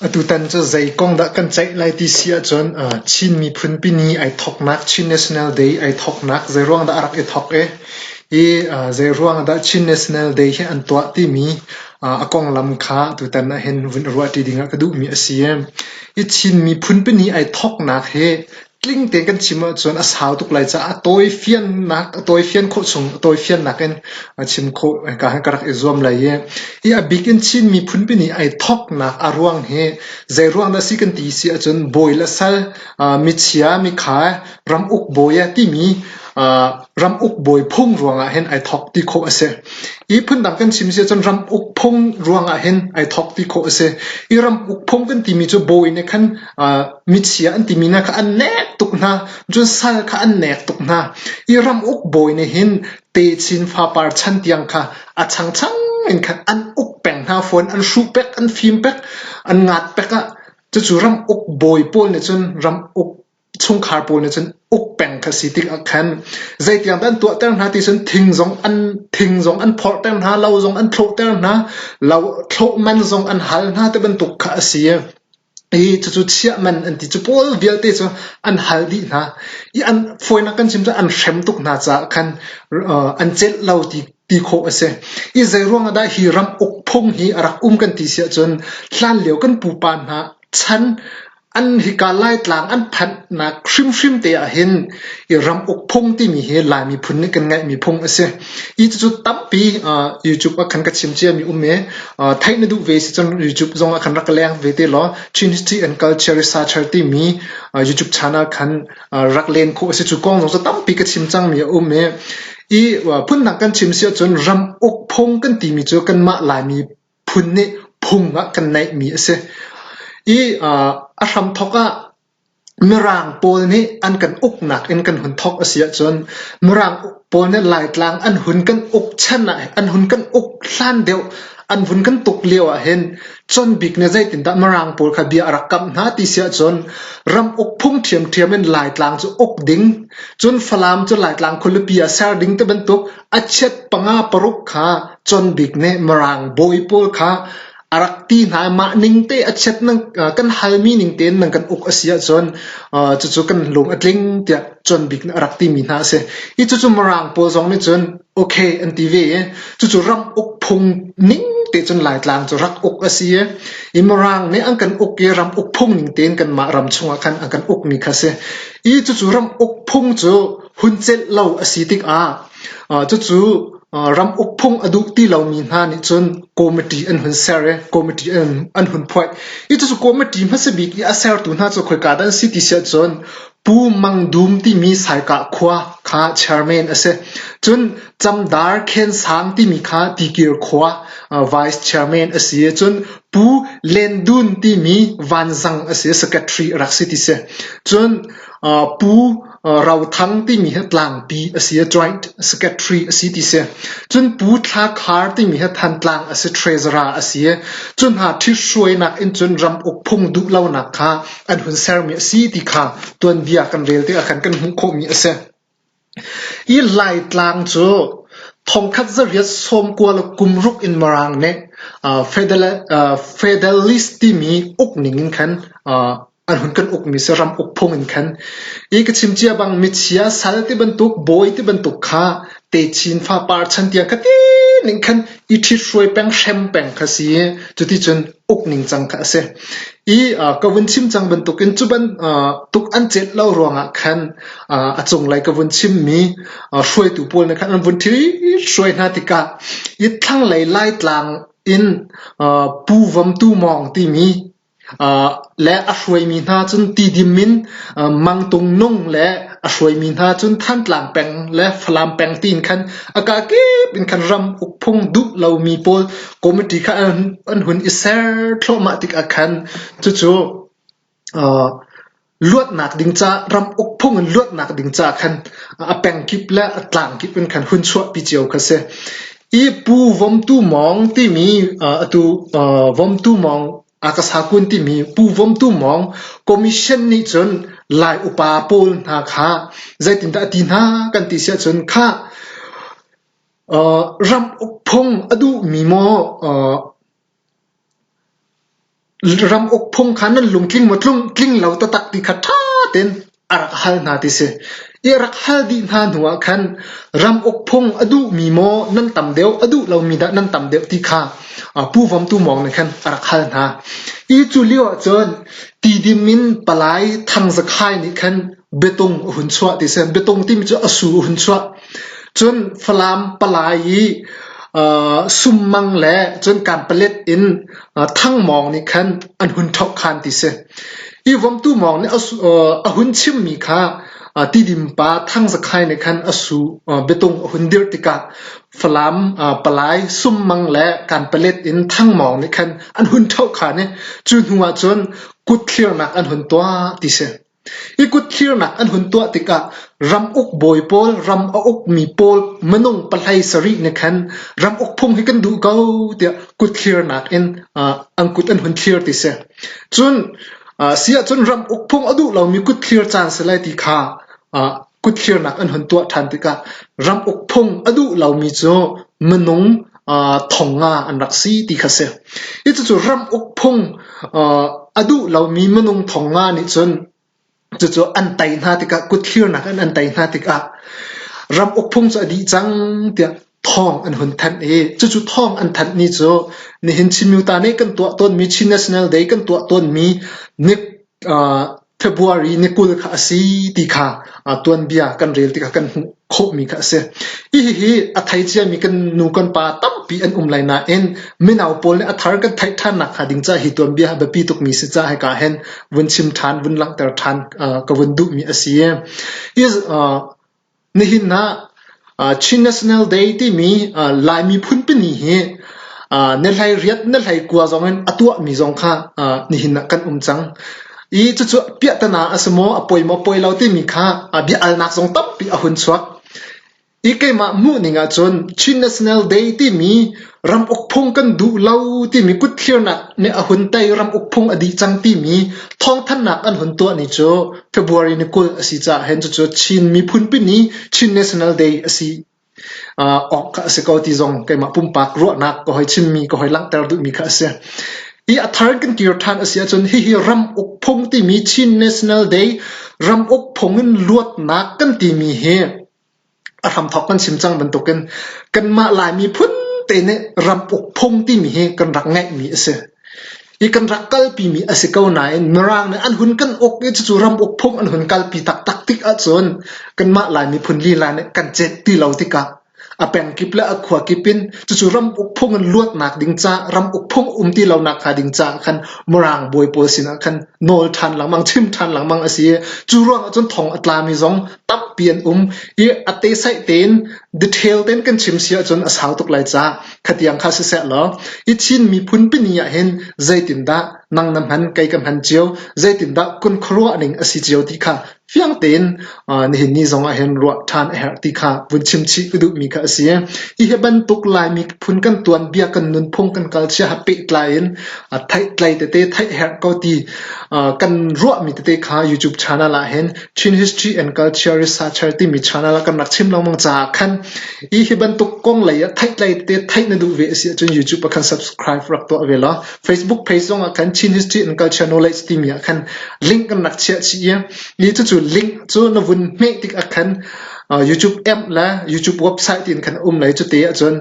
Atutan cu zei kong dah kan ceih lai ti si ahcun Chin miphun pini ai thawknak Chin National Day ai thawknak zeiruang dah a rak i thawk i, hi zeiruang dah Chin National Day hi an tuah timi a konglam kha atutan ahhin vun i ruah ṭi ding ah ka duhmi a si. Hi Chin miphun pini ai thawknak hi tling tein kan chim ahcun a sau tuk lai caah tawifiannak a tawifian khawh chung tawifiannak in chim khawh ka rak i zuam lai i hi a bik in Chin miphunpi nih ai thawknak a ruang hi zei ruang dah si kan ti si ahcun bawi le sal michia mikhai ram uk bawi timi ram uk bawi phung ruangah hin ai thawk ti khawh a si hi phundang kan chim si ahcun ram uk phung ruangah hin ai thawk ti khawh a si i ram uk phung kan timi cu bawi nih khan michia an timi hna kha an nek tuk hna, cun sal kha an nek tuk hna. I ram uk bawi nih hin techin fapar chan tiang kha a changchang in khan an uk peng hna fawn, an hruh pek, an fim pek, an ngat pek ah. Cucu ram uk bawi pawl nih cun ram uk chungkhar pawl nih cun uk peng kha si tik ah khan zeitiang dah an tuah ter hna ti cun thing zong an thing zong an phorh ter hna, lo zong an thloh ter hna, lo thloh man zong an hal hna ti bantuk kha a si. Cucu chiahman an ti. Cu pawl vialte cu an hal dih hna i an fawinak kan chim cu an hrem tuk hna caah khan an celh lo ti khawh a si. Hi zeiruangah dah hi ram uk phung hi a rak um kan ti si ahcun hlanlio kan pupa hna chan an hika Laitlang an phanhnak hrimhrim te ahhin i ram uk phung timi hi Lai miphun nih kan ngeihmi phung a si. Cucu tampi YouTube ah khan ka chim cia mi um i theih na duh ve si cun YouTube zong ah khan rak ka leng ve te law Chin History and Culture Researcher timi YouTube channel khan rak len khawh a si. Cu kong zong cu tampi ka chim cang mi a um i i phunnak kan chim si ahcun ram uk phung kan timi cu kanmah Laimi phun nih phung ah kan naih mi a si. I a hram thawk ah Mirang pawl nih an kan uknak in kan hun thawk a si ahcun Mirang pawl nih Laitlang an hun kan uk chan ah an hun kan uk hlan deuh an vun kan tuk lio ahhin Chawnbik nih zeitindah Mirang pawl kha bia a rak kamh hna ti si ahcun ram uk phung ṭhiamṭhiam in Laitlang cu uk ding cun Falam cu Laitlang khualipi ah ser ding ti bantuk a chiat panga paruk kha Chawnbik nih Mirang bawi pawl kha a rak ti hna i mah ning te a chiat nan kan halmi ning tein nan kan uk a si ahcun cucu kan lung a tling tiah John Bik nih a rak timi hna a si. Hi cucu Mirang pawl zong nih cun okay an ti ve i cucu ram uk phung ning te cun Laitlang cu rak uk a si i i Mirang nih an kan uk i ram uk phung ning tein kan mah ram chungah khan an kan uk mi kha si. I cucu ram uk phung cu hun celh lo a si tikah Cucu ram uk phung a duh ti lomi hna nih cun committee an hun ser i committee an hun phoih. Hi cucu committee hmasa bik i a sertu hna cu khoika dah an si ti si ahcun Pu Mang Dum timi Saikah khua kha chairman a si. Cun Camdar Khen Sang timi kha Tikir khua vice chairman a si i cun Pu Len Dun timi Vanzang a si, secretary a rak si ti si. Cun Pu Rothang timi hi tlangpi a si i joint secretary a si ti si. Cun Pu Thla Khar timi hi Thantlang a si treasurer a si i cu hna ṭhithruainak in cun ram uk phung duh lonak kha an hun sermi a si ti kha tuanbia kan rel tikah khan kan hmuh khawhmi a si. Hi Laitlang cu thongkhat zariat sawmkua le kumruk in Mirang nih federal, uh, federalist timi uk ning in khan uh, An hun kan ukmi saram uk phung in khan i ka chim cia bang michia sal ti bantuk, bawi ti bantuk kha techin fa par chan tiang khatin ning khan i ṭhit hruai peng hrem peng kha si i cuti cun uk ning cang kha a si. I uh, ka vun chim cang bantuk in cuban uh, tuk an chet lo ruangah khan uh, a cunglei ka vun chimmi uh, hruaitu pawl na khan an vun thil hruai hna tikah i thlanglei laitlang in uh, pu vamtu mawng timi Le a hruaimi hna cun tidim in mangtung nung le a hruaimi hna cun Thantlang peng le Falam peng tiin khan a kaa kip in khan ram ukphung duh lomi pawl committee kha an hun i ser thluahmah tik ah khan cucu Luatnak ding ca, ram uk phung in luatnak ding ca khan a pengkip le a tlangkip in khan hun chuahpi cio kha si. I pu Vomtu Mawng timi atu Vomtu Mawng Akasa Kun timi Pu Vomtu Mawng Commission nih cun Lai upa pawl hna kha zeitindah a ti hna kan ti siah cun khah ram uk phung a duhmi maw Ram uk phung kha nan lungtling maw tling lo taktak ti kha ṭha tein a rak hal hna ti si. I a rak hal dih hna hnuah khan ram uk phung a duhmi maw nan tam deuh a duh lomi dah nan tam deuh ti kha Pu Vom Tu Mawng nih khan a rak hal hna. Hi cu lioah cun Tidim in palai Thang Za Khai nih khan biatung a hun chuah ti si. Biatung timi cu a su a hun chuah. Cun Falam palai i sum mang le cun kanpalet in Thang Mawng nih khan an hun ṭhohkhan ti si. Hi Vomtu Mawng nih a hun chimmi kha Tidimpa Thang Za Khai nih khan a su biatung a hun dirh tikah Falam palai sum mang le kanpalet in Thang Mawng nih khan an hun ṭhohkhan i cu hnuah cun kutthliarnak an hun tuah ti si. I kutthirnak an hun tuah tikah ramuk bawi pawl, ram a ukmi pawl minung pahlei sarih nih khan ramuk phung hi kan duh ko tiah kutthirnak in an kut an hun thir ti si. Cun a si ahcun ramuk phung a duh lomi kutthir caan si lai ti kha kutfirnak an hun tuah ṭhan tikah ram uk phung a duh lomi cu minung thong nga an rak si ti kha si. Hi cucu ram uk phung a duh lomi minung thong nga nih cun cucu an tei hna tikah kutfirnak in an tei hna tikah ram uk phung cu a dih cang tiah thawng an hun thanh i cucu thawng an thanh ni cu nihin Chin Myu ta nih kan tuah tawnmi Chin National Day kan tuah tawnmi ni February ni kul kha a si ti kha tuanbia kan rel tikah kan hmuh khawhmi kha a si. Hihi a thei ciami kan nu kan pa tampi an um lai nain minau pawl nih a thar kan theih ṭhan nakhnga ding caah hi tuanbia ha biapi tukmi si caah hika hin vun chim ṭhan, vun langhter ṭhan ka vun duhmi a si. Hi Nihin ah Chin National Day timi Lai miphun pahnih hi na hleiriat na hleikua zongin a tuahmi zong kha nihin ah kan um cang. I cucu piahtana a si maw, a poi maw, poi lo timi kha bia-alnak zong tampi a hun chuak. I keimah hmuhning ahcun Chin National Day timi ram ukphung kan duh lo timi kutthliarnak nih a hun tei ram ukphung a dih cang timi thawngthannak an hun tuah ni cu February ni kul a si caah hen cucu Chin miphunpi ni Chin National Day a si uh, awk kha a si ko ti zong keimah pumpak ruahnak ka hoi chimmi ka hoi langhter duhmi kha a si hi a thar kan kir than a si ahcun hihi ram ukphung timi Chin National Day ram ukphung in luatnak kan timi hi A hramthawk kan chim cang bantukin kanmah Laimi phunte nih ram uk phung timi hi kan rak ngeihmi a si. I kan rak kalpimi a si ko nain Mirang nih an hun kan uk i cucu ram uk phung an hun kalpi taktak tik ahcun kanmah Lai miphun lila nih kan cet ti lo tikah a pengkip le a khuakip in cucu ram uk phung in luatnak ding ca, ram uk phung um ti lonak hnga ding caah khan Mirang bawi pawl sinah khan nawl ṭhan lengmang, chim ṭhan lengmang a si i cu ruang ahcun thong a tlami zong Tampi an um i a tesaih tein detail tein kan chim si ahcun a sau tuk lai ca khatiang kha siseh law i Chin miphun pini ahhin zeitindah nang na hman kei ka hman cio zeitindah kun khuaruahning a si cio ti kha fiang tein nihin ni zong ahhin ruah ṭhan a herh ti kha vun chim chih ka duhmi kha a si. Hihi bantuk Lai miphun kan tuanbia kan nunphung kan kal cia ha pehtlai in theih tlai tete theih herh ko ti kan ruahmi tete kha YouTube channel ahhin Chin History and Culture Researcher timi channel ah kan rak chim lengmang caah khan hi hi bantuk kong lei ah theih lei te theih na duh ve a si ahcun YouTube ah khan subscribe rak tuah ve law Facebook page zong ah khan Chin History and Culture Knowledge timi ah khan link kan rak chiah chih i ni cu cu link cu na vun hmeh tik ah khan YouTube app le YouTube website in khan um lai cu te ahcun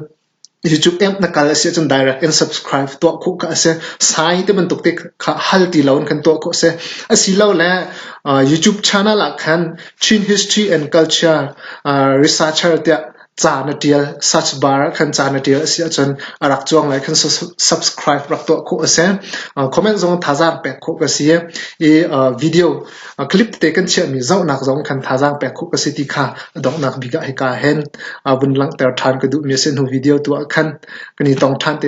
Cucu Amp na kal a si ahcun direct in subscribe tuah khawh kha a si. Sai ti bantuk te kha hal ti lo in kan tuah khawh a si. Asilole uh, YouTube channel ah khan Chin History and Culture uh, Researcher tiah ca na tial search bar ah khan ca na tial a si ahcun a rak cuang lai khan subscribe rak tuah khawh a si. Uh, comment zong thazaang pek khawh ka si i uh, video A clip te kan chiahmi zohnak zong khan thazaang pek khawh ka si ti kha a donghnak bik ah hika ah hin vun langhter ṭhan ka duhmi a si. Hnu video tu ah khan kan i tong ṭhan te.